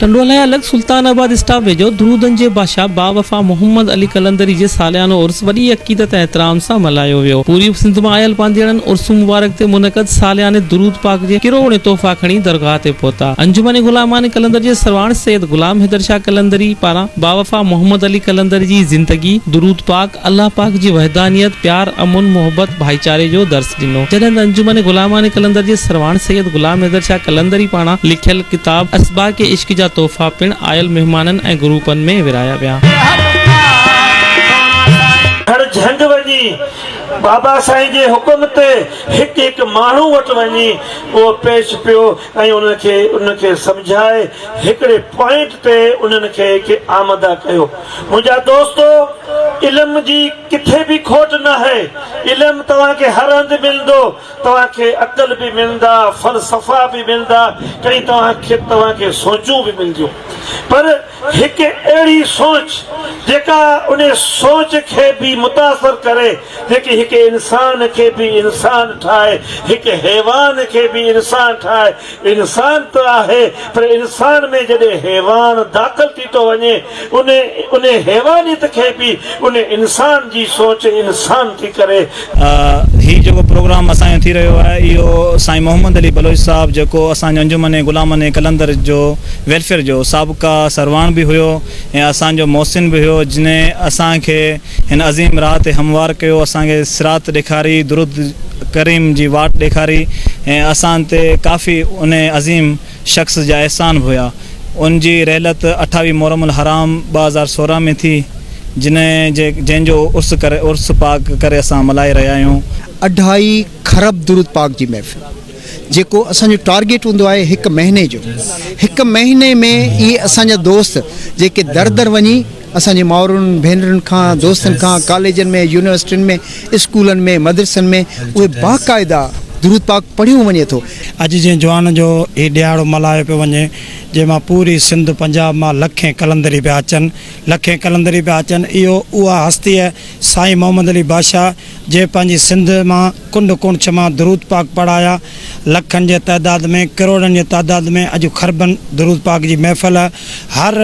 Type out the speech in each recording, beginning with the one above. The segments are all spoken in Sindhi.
ٽنڊو الاهي الڳ سلطان آباد اسٽاپ ويجهو درودن جي بادشاهه باوفا محمد علي قلندري جي ساليانو عرس وڏي عقيدت ۽ احترام سان ملهايو ويو پوري سنڌ مان آيل پانڌيئڙن عرس مبارڪ تي منعقد سالياني درود پاڪ جي ڪروڙين تحفا کڻي درگاهه تي پهتا انجمن غلامان قلندر جي سرواڻ سيد غلام حيدر شاهه قلندري پاران باوفا محمد علي قلندر جي زندگي درود پاڪ الله پاڪ جي وحدانيت، پيار، امن، محبت، ڀائيچاري جو درس ڏنو. جڏهن ته انجمن غلامان قلندر جي سرواڻ سيد غلام حيدر شاهه قلندري پاران لکيل ڪتاب اسباق عشق جا تحفا پڻ آيل مهمانن ۽ گروپن ۾ ورهايا ويا. هر جهنڊ وڃي بابا سائين جي حڪم تي هڪ هڪ ماڻهو وٽ وڃي اهو پيش پيو. ۽ انهن کي انهن کي سمجهائي هڪڙي پوائنٽ تي انهن کي کي آمده ڪيو منهنجا دوستو علم جي ڪٿي به کوٽ ناهي علم توهان کي هر هنڌ ملندو توهان کي عقل به ملندا فلسفا به ملندا ڪئين توهان کي توهان کي سوچون به ملنديون پر هڪ اهڙي سوچ جيڪا ان سوچ کي به متاثر ڪري جيڪي هڪ انسان کي به انسان ٺاهي، هڪ حيوان کي به انسان ٺاهي. انسان ته آهي پر انسان ۾ جڏهن حيوان داخل ٿي ٿو وڃي ان ان حيوانيت کي به ان انسان جي سوچ انسان ٿي ڪري هي جيڪو پروگرام اسان جو ٿي رهيو آهي اهو سائين محمد علي بلوچ صاحب جيڪو اسان جو انجمن غلامن قلندر جو ويلفيئر جو سابقه سروان به هيو ۽ اسان جو محسن به هيو جنهن اسان کي هن عظيم راهه تي هموار ڪيو اسان کي صراط ڏيکاري درود ڪريم جي واٽ ڏيکاري ۽ اسان تي ڪافي انهي عظيم شخص جا احسان به هيا. ان جي رحلت اٺاويهه محرم الحرام ٻه هزار سورهن ۾ ٿي، جنهن جي جنهن جو عرس ڪري عرس پاڪ ڪري اسان ملهائي رهيا آهيون. اڍائي خرب درود پاڪ جي محفل جيڪو اسان جو ٽارگيٽ هوندو آهي هڪ مهيني جو هڪ مهيني ۾ اهي اسان جا دوست جيڪي در در وڃي. اسان جي مائرن ڀينرن کان، دوستن کان، ڪاليجن ۾، يونيورسٽين ۾، اسڪولن ۾، مدرسن ۾ اهي باقاعده درود پاڪ پڙهيو وڃي ٿو. اڄ جنهن جوان جو هي ڏهاڙو ملهايو پيو وڃي، جنهن مان پوري سنڌ پنجاب مان لکين قلندري پيا اچن، لکين قلندري پيا اچن، اهو اها هستيء سائين محمد علي بادشاهه جنهن پنهنجي سنڌ مان ڪنڊ ڪوڻڇ مان درود پاڪ پڙهايا، لکن جي تعداد ۾ ڪروڙن جي تعداد ۾ اڄ خربن درود پاڪ جي محفل هر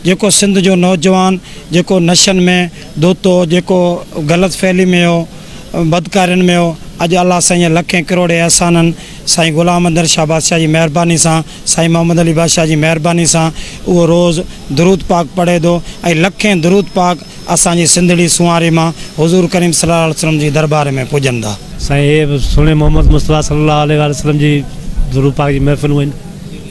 جيڪو سنڌ جو نوجوان جيڪو نشن ۾ ڌت هو جيڪو غلط فعلي ۾ هو بدڪارين ۾ هو اڄ الله سائين جي لکين ڪروڙين احسانن سائين غلام اندر شاهه بادشاهه جي مهرباني سان سائين محمد علي بادشاهه جي مهرباني سان اهو روز درود پاڪ پڙهي ٿو ۽ لکين درود پاڪ اسان جي سنڌڙي سونهاري مان حضور ڪريم صلي الله عليه وسلم جي دربار ۾ پڄن ٿا. سائين اهي به سهڻي محمد مصطفيٰ صلي الله عليه واٰله وسلم جي درود پاڪ جي محفلون آهن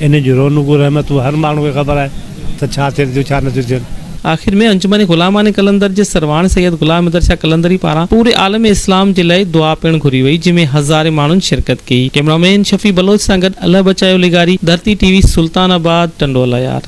انهن جون رونقون رحمتون هر ماڻهو کي خبر آهي ته ڇا ٿين ٿيون ڇا نه ٿيون ٿين. آخر ۾ انجمن غلامان قلندر جي سرواڻ سيد غلام حيدر شاھ قلندري پاران پوري عالم اسلام جي لاء دعا پڻ گهري وئي جنهن ۾ هزارين ماڻهن شرڪت ڪئي ڪيمرا مين شفيع بلوچ سان گڏ الله بچايو لغاري، ڌرتي ٽي وي، سلطان آباد، ٽنڊو الايار.